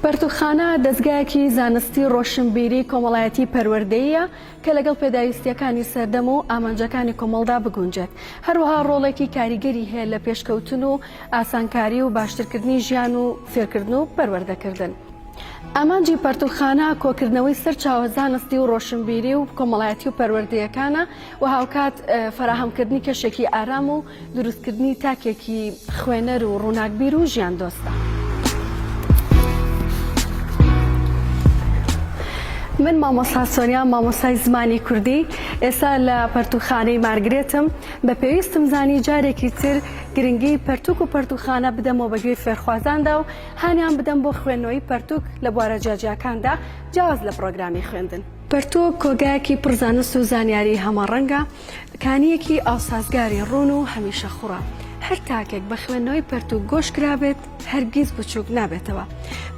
پەرتووکخانە دەزگایەکی زانستی ڕۆشنبیری کۆمەڵایەتی پەروەردەییە کە لەگەڵ پێداویستیەکانی سەردەم و ئامانجەکانی کۆمەڵدا بگونجێت هەروەها ڕۆڵێکی کاریگەری هەیە لە پێشکەوتن و ئاسانکاری و باشترکردنی ژیان و فێرکردن و پەروەردەکردن. ئامانجی پەرتووکخانە کۆکردنەوەی سەر چاوە زانستی و ڕۆشنبیری و کۆمەڵایەتی و پەروەردەیەکانە و هاوکات فەراهەمکردنی کەشێکی ئارام و دروستکردنی تاکێکی خوێنەر و ڕووناکبیر و ژیاندۆستە. من مامۆستا سۆنیام، مامۆستای زمانی کوردی، ئێستا لە پەرتووخانەی مارگرێتم، بە پێویستم زانی جارێکی تر گرنگی پەرتووک و پەرتووخانە بدەمەوە بە گوێی فێرخوازاندا و هانیان بدەم بۆ خوێندنەوەی پەرتووک لە بوارە جیاجیاکاندا جیاواز لە پڕۆگرامی خوێندن. پەرتووک کۆگایەکی پڕ زانست و زانیاریی هەمەڕەنگە، کانییەکی ئاوسازگاری ڕوون و هەمیشە خوڕە. هەر تاکێک بە خوێندنەوەی پەرتووک گۆش کرابێت، هەرگیز بچووک نابێتەوە.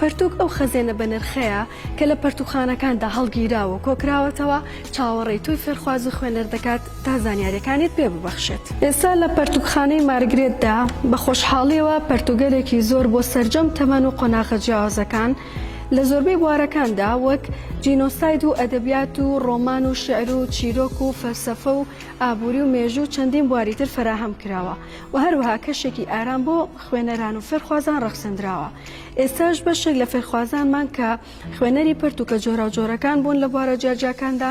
پەرتووک ئەو خەزێنە بەنرخەیە کە لە پەرتووکخانەکاندا هەڵگیراوە و کۆکراوەتەوە، چاوەڕێی تۆی فێرخواز و خوێنەر دەکات تا زانیارییەکانیت پێ ببەخشێت. ئێستا لە پەرتووکخانەی مارگرێتدا بە خۆشحاڵییەوە پەرتووگەلێکی زۆر بۆ سەرجەم تەمەن و قۆناغە جیاوازەکان لە زۆربەی بوارەکاندا وەک، جینۆساید و ئەدەبیات و ڕۆمان و شیعر و چیرۆک و فەلسەفە و ئابووری و مێژوو و چەندین بواری تر فەراهەم کراوە و هەروەها کەشێکی ئارام بۆ خوێنەران و فێرخوازان ڕەخسەندراوە. ئێستاش بەشێک لە فێرخوازانمان کە خوێنەری پەرتووکە جۆراوجۆرەکان بوون لە بوارە جیاجیاکاندا،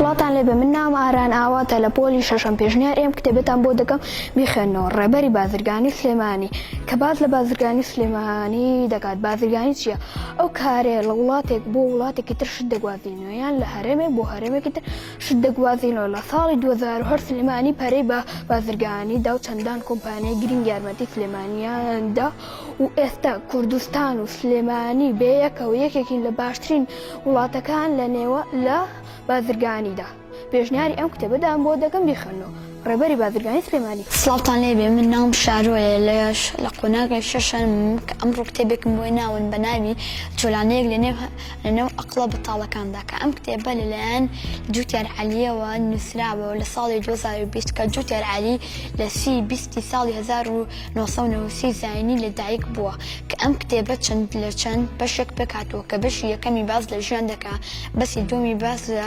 سڵاتان لێبێ من نام ئاران ئاواتە لە پۆلی شەشەم پێشنیار ئێم کتێبێتان بۆ دەکەم بیخێنەوە ڕێبەری بازرگانی سلێمانی کە باز لە بازرگانی سلێمانی دەکات بازرگانی چییە ئەو کارێ لە وڵاتێک بۆ وڵاتێکی تر شت دەگوازینەوە یان لە هەرێمێک بۆ هەرێمێکی تر شدە گوازینۆ لە ساڵی دوو هەزار و هەشت سلێمانی پەرەی بە بازرگانی دا و چەندان کۆمپانیای گرنگ یارمەتی سلێمانیان دا و ئێستا کوردستان و سلێمانی بە یەکەوە یەکێکین لە باشترین وڵاتەکان لە بازرگانیدا. پێشنیاری ئەم کتێبەتان بۆ دەکەم بیخوێننەوە. ڕێبەری بازرگانی سلێمانی. سڵاوتان لێ بێ من ناوم شارۆیە لە لە قۆناغی شەشەم کە ئەمڕۆ کتێبێکم بۆی ناون بە ناوی چۆلانەیەک لە نێو لە نێو ئەقڵە بەتاڵەکاندا کە ئەم کتێبە لە لایەن جوتیار عەلیەوە نووسراوە و لە ساڵی دوو هەزار و بیست کە جوتیار عەلی لە سی بیستی ساڵی هەزار و نۆ سەد و نەوەد و سی زایینی لە دایک بووە کە ئەم کتێبە چەند لە چەند بەشێک پێک هاتووە کە بەشی یەکەمی باس لە ژیان دەکا بەسی دووەمی باس لە